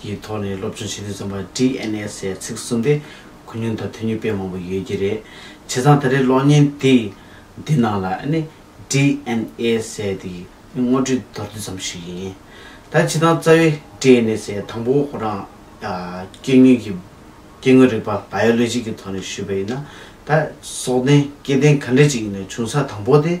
ཀྱི་ཐོག་ནས་སློབ་སྦྱོང་བྱེད་དུས་རྩོམ་པ་བྲིས་ཨེ་ནས་སའི་ཚིག་གསུམ་དེ་ཁུ་སྙུན་དང་ཐུ་སྙུན་དཔེ་མང་པོ་ཡོད་ཀྱི་རེད། བྱས་ཙང་ད་རེས་གློག་བརྙན་དེ་འདི་ནང་ལ་ཨེ་ནས་བྲིས་ཨེན་ཨེ་སའི་དེ་དངོས་བྲིས་མདོར་བསྡུས་ཙམ་ཞིག་ཡིན། ད་བྱས་ཙང་རྩ་བའི་བྲིས་ཨེ་ནས་སའི་དང་པོ་ཁོ་རང་སྐྱེ་དངོས་ཀྱི་སྐྱེ་དངོས་རིག་པ Biology ཀྱི་ཐོག་ནས་ཞུས་པ་ཡིན་ན་ད་སྲོག་ལྡན་སྐྱེ་ལྡན་ག་འདྲ་ཅིག་ཡིན་ན་བྱུང་ས་དང་པོ་དེ་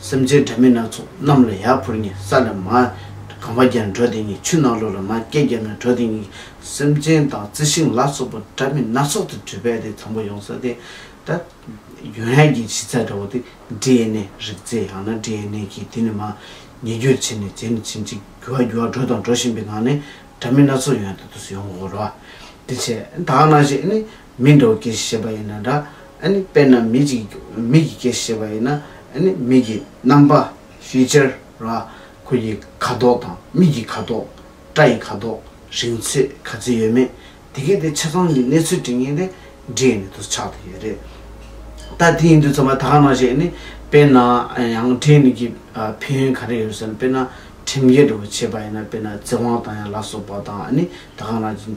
སེམས་ཅན་དགྲ་མི་སྣ་ཚོགས་རྣམས་ལ་ཡར་འཕུར་ངེས་ས་ལས་མ། གང་བ་རྒྱལ་འགྲོ་དེ་ཉིད་ཆུ་ནག་ལུ་ལ་མ་སྐྱེས་རྒྱལ་མོའི་འགྲོ་དེ་ཉིད་སེམས་ཅན་དང་རྩི་ཤིང་ལ་སོགས་པ་དགྲ་མི་སྣ་ཚོགས་དང་དྲི་བས་དེ་དང་པོ་ཡོང་ས་དེ། ད། ཡོན་ཧན་གྱི་བྱི་ཚ་འདྲ་བོ་དེ་འབྲི་ཡེ་ནས་རིག་རྩེ་ཡང་ན་འབྲི་ཡེ་ནས་ཀྱིས་དེ་ནི་མ། ཉེ་རྒྱུར་བྱེད་ནས་བྱེད་ནས་བྱིན་ཅིག་རྒྱུ་བ་རྒྱུ་བ་འགྲོ་དང་འགྲོ་བཞིན་པའི་ངང་ནས་དགྲ་མི་སྣ་ཚོགས་ཡོན་དུ་དུ་སུ་ཡོང་གོ་རོ། དེ་ཕྱེད་དག་ན་ཞེས་ནི། མི་འགྲོ་སྐྱེ་ཤེས་པ་ཡིན་ན་འདྲ། ཨ་ནི་དཔེར་ན་མི་གཅིག་མིག་གིས་སྐྱེ་ཤེས་པ་ཡིན་ན་ཨ་ནི་མིག་གི་རྣམ་པ། Feature། ལ་ཁོ་ཡི་ཁ་དོག་དང་མིག་གི་ཁ་དོག། སྐྲ་ཡི་ཁ་དོག། རིང་ཚོད་ག་ཚོད་ཡོད་མེད་དེ་གས་དེ་ཆ་ཚང་གི་གནས་ཚུལ་དྲི་ངན་དེ་འབྲི་ཡི་ནི་དུ་ཆགས་དུ་ཡོད་རེད། ད་དེ་ཡིན་དུས་ཚང་མ་ད་ག་ནང་བཤད་ཨ་ནི་དཔེར་ན་ཡང་དྲི་ངན་གི་ཕན་ཡོན་ག་རེ་ཡོད་ཟེར་ན་དཔེར་ན་ཁྲིམས་འགལ་འགྲོ་བ་བྱེད་པ་ཡིན་ན་དཔེར་ན་བཙན་དབང་དང་ཡང་ལ་སོགས་པ་དང་ཨ་ནི་ད་ག་ནང་བཞིན་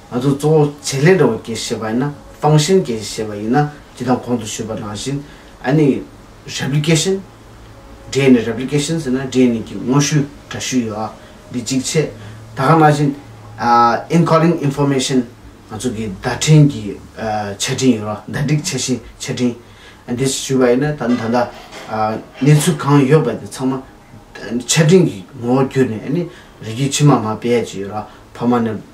ང་ཚོ་གཙོ་བོ་བྱེད་ལས་འདྲ་བོ་སྐྱེ་ཤེས་པ་ཡིན་ན་ཧྥང་ཤིན་སྐྱེ་ཤེས་པ་ཡིན་ན་ཅི་དང་གོང་དུ་ཞུས་པ་རང་བཞིན་ཨ་ནི Replication འབྲེལ་ནི Replication ཟེར་ན་འབྲེལ་ནི་གྱི་ངོ་བཤུས་འདྲ་བཤུས་ཡོད་ཨ་འདི་གཅིག་བྱས་ད་ག་ན་བཞིན Encoding Information ང་ཚོ་གི་བརྡ་འཕྲིན་གྱི་ཆ་འཕྲིན་ཡོད་ར་བརྡ་སྒྲིག་བྱ་བཞིན་ཆ་འཕྲིན་ཨ་འདི་ཞུས་པ་ཡིན་ན་ད་ད་ད་གནས་ཚུལ་གང་ཡོད་པ་དེ་ཚང་མ་ཆ་འཕྲིན་གྱི་ངོ་བོ་བསྒྱུར་ནས་ཨ་ནི་རིགས་རྒྱུད་ཕྱི་མ་མ་བེད་ཅེས་ཡོད་ར་ཕ་མ་ནི།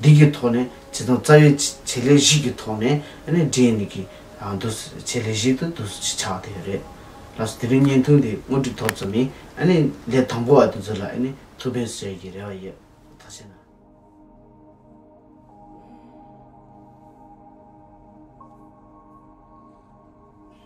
འདི་གི་ཐོག་ནས་བྱེ་ཐང་རྩ་བའི་བྱེད་ལས་བཞི་གི་ཐོག་ནས་འདྲེན་ནས་ཀྱི་འདུ་བྱེད་ལས་བཞི་དུ་འདུ་བྱེད་ཆགས་དེ་རེད། ལགས་སོ་དེ་རིང་བརྙན་ཐུང་དེ་དངོས་གྲུབ་ཐོབ་ཙམ་ནས་ལས་དང་པོ་བ་དེ་ཚོ་ལ་ཐུགས་ཕན་གསོས་ཀྱི་རེ་བ་ཡོད་ད་བྱས་ན།